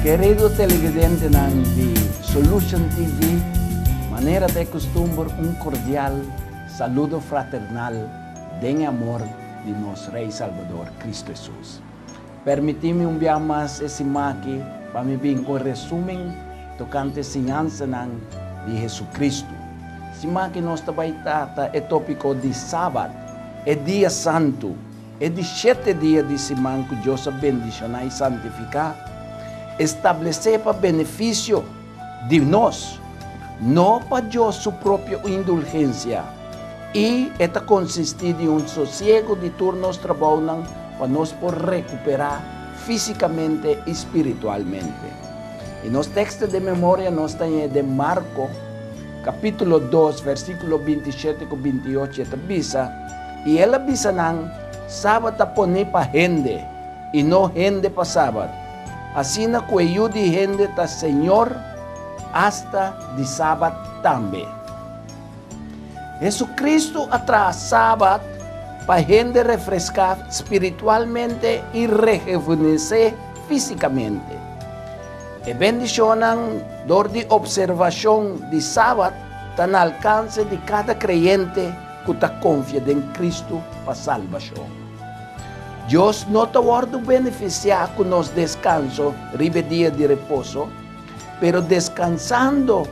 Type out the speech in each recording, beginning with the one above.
Kerido televidentenan di Solution TV, manera ta e kustumber un kordial saludo fraternal den e amor di nos Rei Salbador, Kristu Hesus. Permití mi un biaha mas e sim'aki pa mi bin ku e resúmen tokante e siñansanan di Hesukristu. Sim'aki nos ta bai trata e tópiko di Sabat, e dia santu, e di shete dia di siman ku Dios a bendishoná i santifiká, establesé pa benefisio di nos, no pa Dios su propio indulgencia, i e ta consistí di un sosiego di tur nos trabounan pa nos por recuperá físicamente i spiritualmente. I nos texto den memoria nos ta hei den Marco, capítulo dos, versículo binti shete cu binti ocho, e ta bisa, I el a bisa nan, Sabat a poné pa hende, i no hende pa Sabat. Asina ku e yu di hende ta señor asta di Sabat tambe. Hesukristu a traha Sabat pa hende refreská spiritualmente i rehevunesé físikamente. E bendishonnan dor di opservashon di Sabat ta na alkanse di kada kreyente ku ta konfia den Kristu pa salbashon. Dios no ta wòrdu benefisiá ku nos deskanso riba e dia di reposo, pero deskansando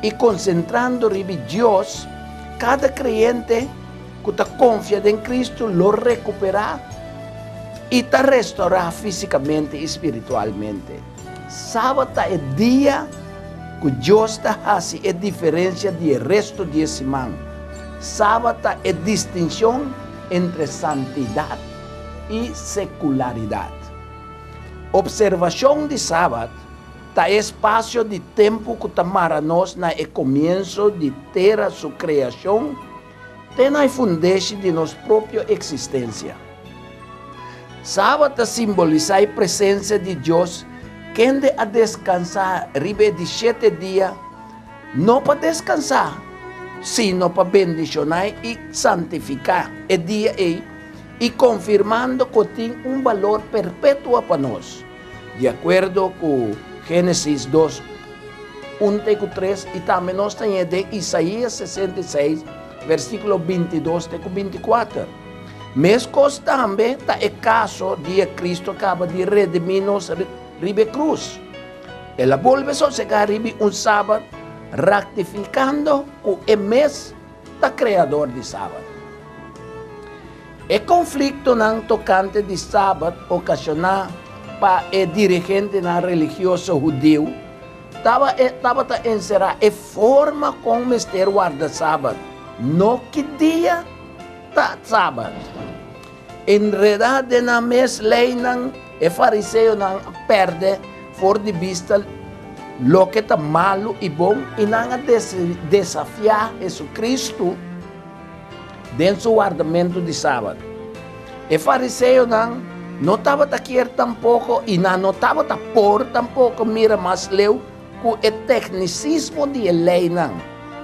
i konsentrando riba Dios, kada kreyente ku ta konfia den Kristu lo rekuperá i ta restorá físikamente i spiritualmente. Sabat ta e dia ku Dios ta hasi e diferensia di e restu di e siman. Sabat ta e distinshon entre santidad y secularidad. Observacion di Sabat ta e espacio di tempu cu ta mara nos na e comienso di tera su creacion te na e fundeshi di nos propio existencia. Sabat ta simbolisa e presencia di Dios kende a descansa riba e di shete dia No pa deskansá, sino pa bendishoná i santifiká e dia ei i konfirmando ku e tin un balor perpetuo pa nos, di akuerdo ku Génesis dos, un te ku tres i tambe nos ta ña den Isaías sesenta i seis, versíkulo binti dos te ku binti kuater. Meskos tambe ta e kaso dia Kristu kaba di redimí nos riba e krus. El a bolbe sosegá riba un sabat, raktifikando ku e mes ta Kreador di sabat. E konfliktonan tokante di sabat okashoná pa e dirigentenan religioso hudiu tabata enserá e forma kon mester warda sabat, no ki dia ta sabat. Enredá den nan mes leinan, e fariseonan a pèrdè for di bista loke ta malu i bon i nan a desafiá Jesucristo den su wardamentu di Sabat. E fariseonan no tabata kier tampoko i nan no tabata por tampoko mira mas leu ku e teknisismo di e leinan,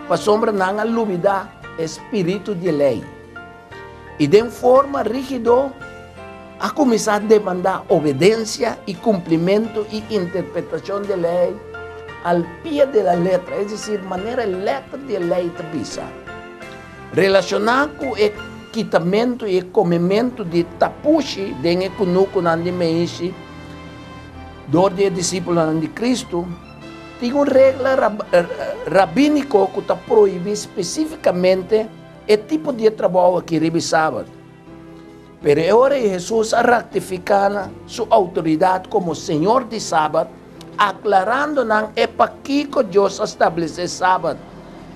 pasobra nan a lubidá e spiritu di e lei. i den forma rígido a kuminsá demandá obedensia i kumplimentu i interpretashon di e lei al pie de la letra, es desir, manera e lèter di e lei ta bisa. Relashoná ku e kitamentu i e komementu di tapushi den e kunukunan di meishi dor di e disipulnan di Kristu, tin un regla rabíniko ku ta prohibí spesífikamente E tipo di e trabou aki riba e Sabat. Pero e ora ei Hesus a raktifiká nan su outoridat komo Señor di Sabat, aklarando nan e pakiko Dios a stablesé e Sabat.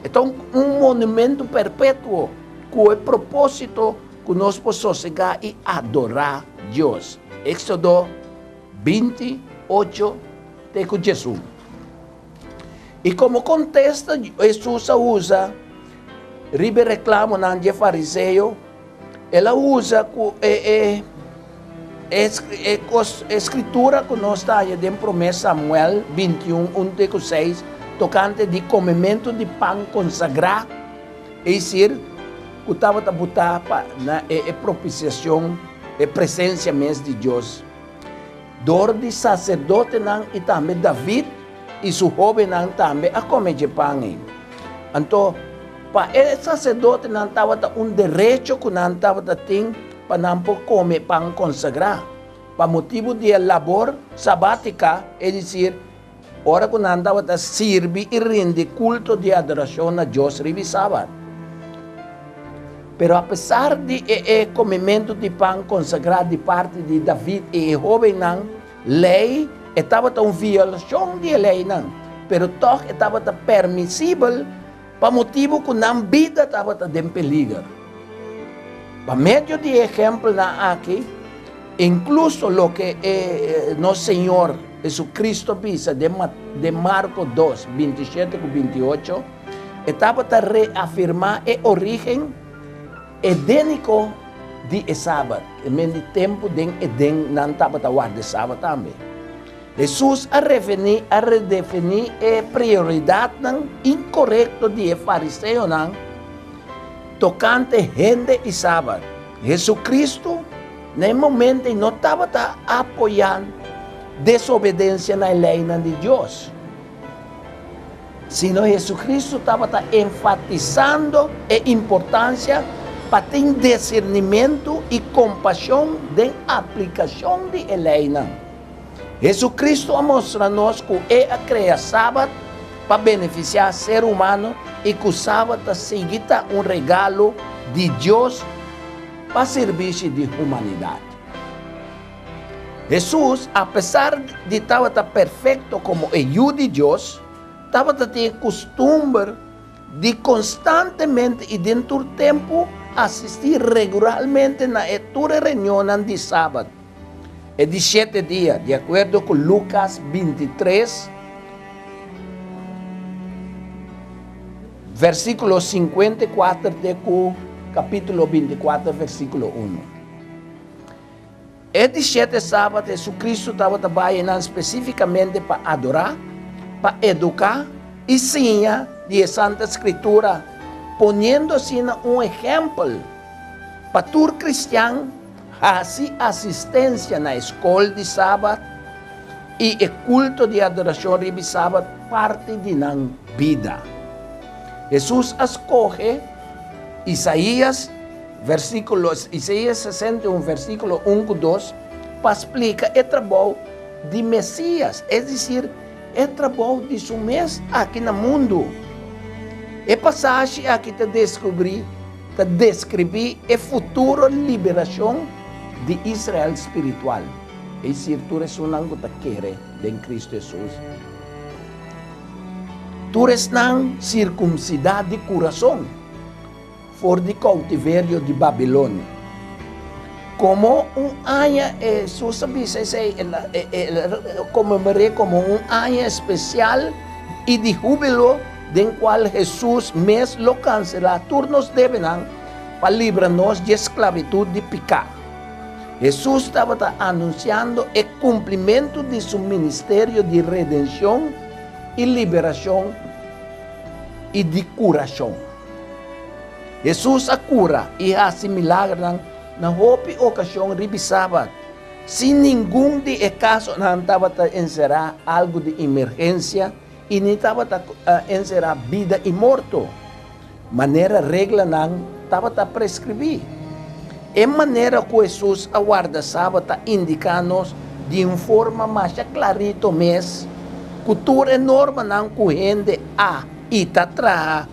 E ta un monumentu perpetuo ku e propósito ku nos por sosegá i adorá Dios. Éksodo binti ocho te ku djiesun. I komo kontesta Hesus a usa riba e reklamonan di e fariseo? El a usa ku e Skritura ku nos ta haña den Promé Samuel bintiun un te ku seis tokante di komementu di pan konsagrá, esisir, ku tabata butá pa na e propisiashon, e presensia mes di Dios. Dor di saserdotenan i tambe David i su hóbennan tambe a kome dje pan ei. Anto, pa e saserdotenan tabata un derecho ku nan tabata tin pa nan por kome e pan konsagrá. Pa motibu di e labor sabátika, es disir, Ora ku nan tabata sirbi i rindi kulto di adorashon na Dios riba e Sabat. Pero apesar di e e kumimentu di pan konsagrá di parti di David i e hóbennan lei, e tabata un violashon di e leinan, pero tòg e tabata permisibel. pa motibu ku nan bida tabata den peliger. Pa medio di e ehèmpelnan akí, inkluso loke e nos Señor Jesucristo bisa den Mat. Den Marko dos, binti i shete ku binti i ocho, e tabata reafirmá e orígen edéniko di e Sabat. E men di tempu den Edén nan tabata warda e Sabat tambe. Hesus a refiní, a redefiní e prioridatnan inkorekto di e fariseonan tokante hende i Sabat. JesuCristo na e momentu ei no tabata apoyá desobedensia na e leinan di Dios, sino JesuCristo tabata enfatisando e importansia pa tin disirnimentu i kompashon den aplikashon di e leinan. Jesucristo a mostra nos cu E a crea Sabat pa beneficia ser humano y cu Sabat ta sigui ta un regalo di Dios pa sirbishi di humanidad. Jesus, apesar di tabata perfecto como e Yu di Dios, tabata tin e custumber di constantemente y den tur tempo asisti regularmente na tur e reunionnan di Sabat. E di shete dia, di akuerdo ku Lukas binti tres, vèrsikulo sinkuenta i kuater te ku kapítulo binti i kuater vèrsikulo unu. E di shete sabat JesuCristu tabata bai nan spesífikamente pa adorá, pa eduká i siña di e Santa Skritura, poniendo asina un ehèmpel pa tur kristian. Hasi asistencia na e scol di Sabat y e culto di adoracion ribi Sabat parti di nan bida. Hesus a scoge Isaías versiculo Isaías sesenta i un versiculo un cu dos pa splica e trabou di Mesias, es dicir, e trabou di su mes aki na mundu. E pasashi aki ta descubri ta deskribí e futuro liberashon di Israel spiritual, es isir, tur esunnan ku ta kere den Kristu Hesus, tur esnan sirkumsidá di kurason, for di koutiverio di Babilonia. Komo un aña, e Hesus a bisa esei, el a komemore'é komo un aña espesial i di húbilo den cual Jesús mes lo cancela tur nos debenan pa libra nos dje sclavitud di pica. Jesús tabata anunciando e cumplimento di su ministerio di redencion y liberacion y di curacion. Jesús a cura y haci milagronan na hopi ocasion ribi Sabat, sin ningun di e casonan tabata encera algo di emergencia, I ni tabata enserá bida i morto, manera reglanan tabata preskribí. E manera ku Hesus a warda Sabat ta indiká nos di un forma masha klarito mes ku tur e normanan ku hende a i ta traha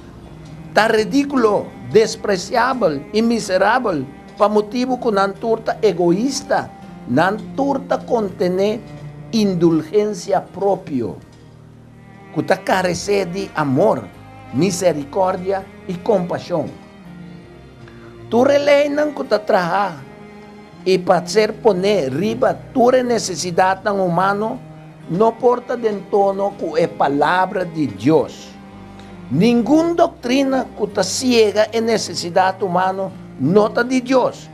ta ridíkulo, despresiabel i miserabel. Pa motibu ku nan tur ta egoista, nan tur ta kontené indulgensia propio, ku ta karesé di amor, miserikòrdia i kompashon. Tur e leinan ku ta traha i pa ser poné riba tur e nesesidatnan humano no por ta den tono ku e Palabra di Dios. Ningun doktrina ku ta siega e nesesidat humano no ta di Dios,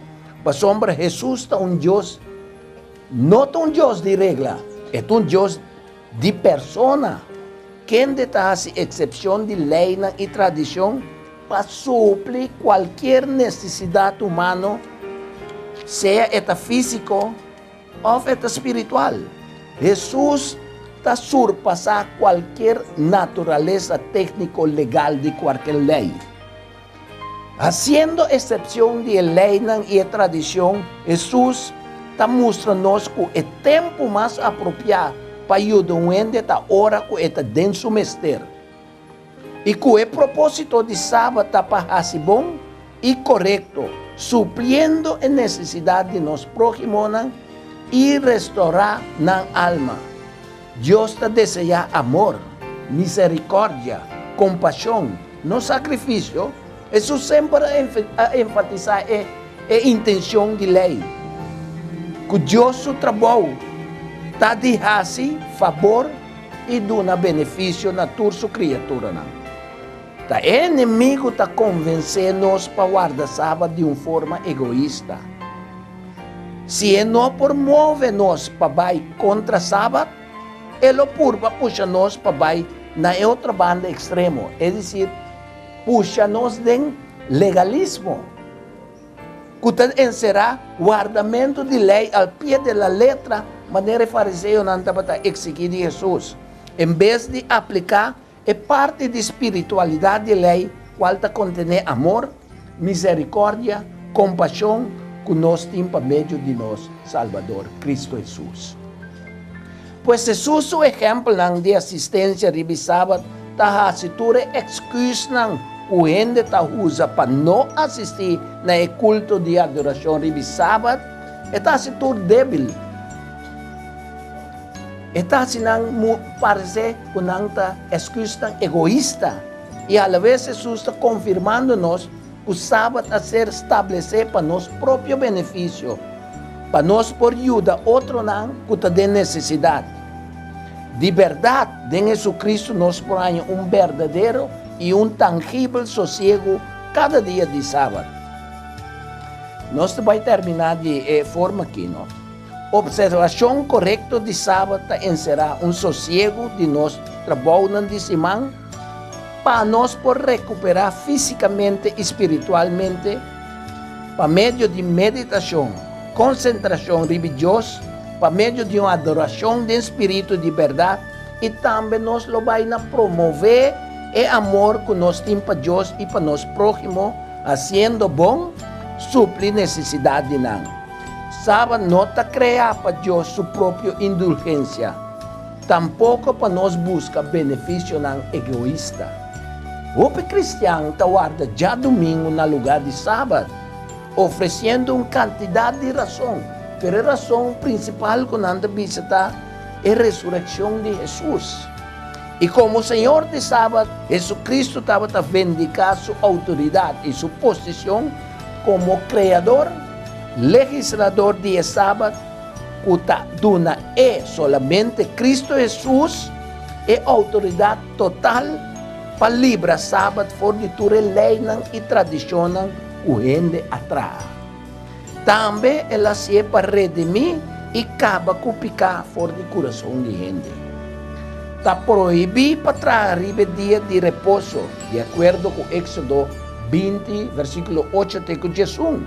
pasobra Hesus ta un Dios, no ta un Dios di regla, e ta un Dios di persona. Kende ta hasi eksepshon di leinan i tradishon pa supli kualkier nesesidat humano, sea e ta físiko, Òf e ta spiritual? Hesus ta surpasá kualker naturalesa tékniko legal di kualker lei. Hasiendo esepshon di e leinan i e tradishon, Hesus ta mustra nos ku e tempu mas apropiá pa yuda un hende ta ora ku e ta den su mester. I ku e propósito di Sabat ta pa hasi bon i korekto, supliendo e nesesidat di nos próhimonan i restorá nan alma. Dios ta deseá amor, miserikòrdia, kompashon, no sakrifisio. Hesus semper a enfatisá e e intenshon di Lei, ku Dios su trabou ta di hasi fabor, I duna benefisio na tur su kriaturanan. Ta e enemigu ta konvensé nos pa warda saba di un forma egoista. Si e no por move nos pa bai kontra Sabat, e lo purba pusha nos pa bai na e otro banda ekstremo, es desir, pusha nos den legalismo. ku ta enserá wardamentu di lei al pie de la letra manera e fariseonan tabata eksigí di Hesus, en bes di apliká e parti di spiritualidat di lei kual ta kontené amor, miserikòrdia, kompashon ku nos tin pa medio di nos Salbador, Kristu Hesus. Pues Hesus su ehèmpelnan di asistencia riba e Sabat ta haci tur e excusnan cu hende ta uza pa no asisti na e culto di adoracion riba e Sabat, e ta haci tur debil. E ta haci nan parece cu nan ta excusnan egoista. I alavez Hesus ta confirmando nos. ku Sabat a ser stablesé pa nos propio benefisio, pa nos por yuda otronan ku ta den nesesidat. Di bèrdat, den Hesukristu nos por haña un berdadero i un tangibel sosiegu kada dia di Sabat. Nos ta bai terminá di e forma akí, no. Opservashon korekto di Sabat ta enserá un sosiegu di nos trabounan di siman, Pa nos por rekuperá físikamente i spiritualmente pa medio di meditashon, konsentrashon riba Dios, pa medio di un adorashon den spiritu di bèrdat i tambe nos lo bai na promové e amor ku nos tin pa Dios i pa nos próhimo hasiendo bon supli nesesidat di nan. Saba no ta kreá pa Dios su propio indulgensia. Tampoko pa nos buska benefisionan egoista. Hopi kristian ta warda djadumingu na lugá di Sabat, ofresiendo un kantidat di rason, pero e rason prinsipal ku nan ta bisa ta e resurekshon di Hesus. I komo Señor di Sabat, Hesukristu tabata vindiká su outoridat i su posishon komo Kreador, Legislador di e Sabat, ku ta duna e solamente Kristu Hesus e outoridat total pa libra Sabat for di tur e leinan i tradishonnan ku hende a traha. Tambe el hasié pa redimí i kaba ku piká for di kurason di hende. Ta prohibí pa traha riba e dia di reposo, di akuerdo ku Éksodo binti, vèrsikulo ocho te ku diesun.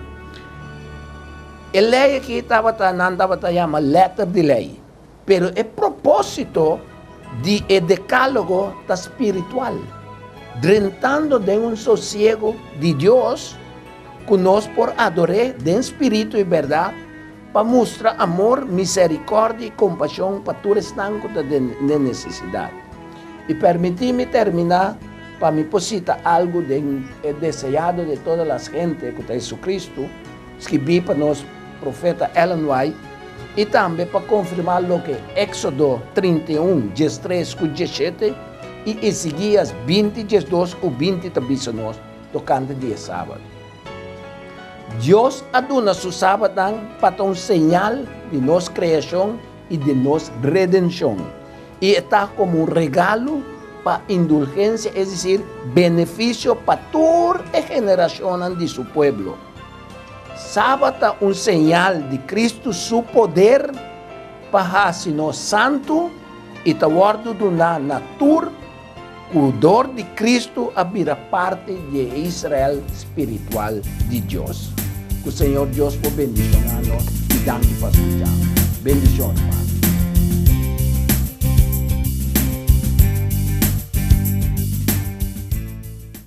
E lei aki tabata, nan tabata yama letter di lei, pero e propósito di e Decálogo ta spiritual, drentando den un sosiego di Dios cu nos por ador'É den spiritu i berdad, pa mustra amor, misericordia i compasion pa tur esnan cu ta den necesidad. I permiti mi termina pa mi por cita algu den El Deseado de Todas las Gentes, cu ta Jesucristo, Skibí pa nos Profeta Ellen White i tambe pa konfirmá loke Éksodo trinta i un, djes tres ku djes shete i Esigías binti, djes dos ku binti ta bisa nos tokante di e Sabat. Dios a duna su Sabatnan pa ta un señal di nos kreashon i di nos redenshon, i e ta komo un regalo pa indulgensia, es desir, benefisio pa tur e generashonnan di su pueblo. Saba ta un señal di Cristu su poder pa haci nos santu y ta wordo duna na tur cu dor di Cristu a bira parti di e Israel spiritual di Dios. Cu Señor Dios por bendiciona nos y danki pa su llamado. Bendiciones mami.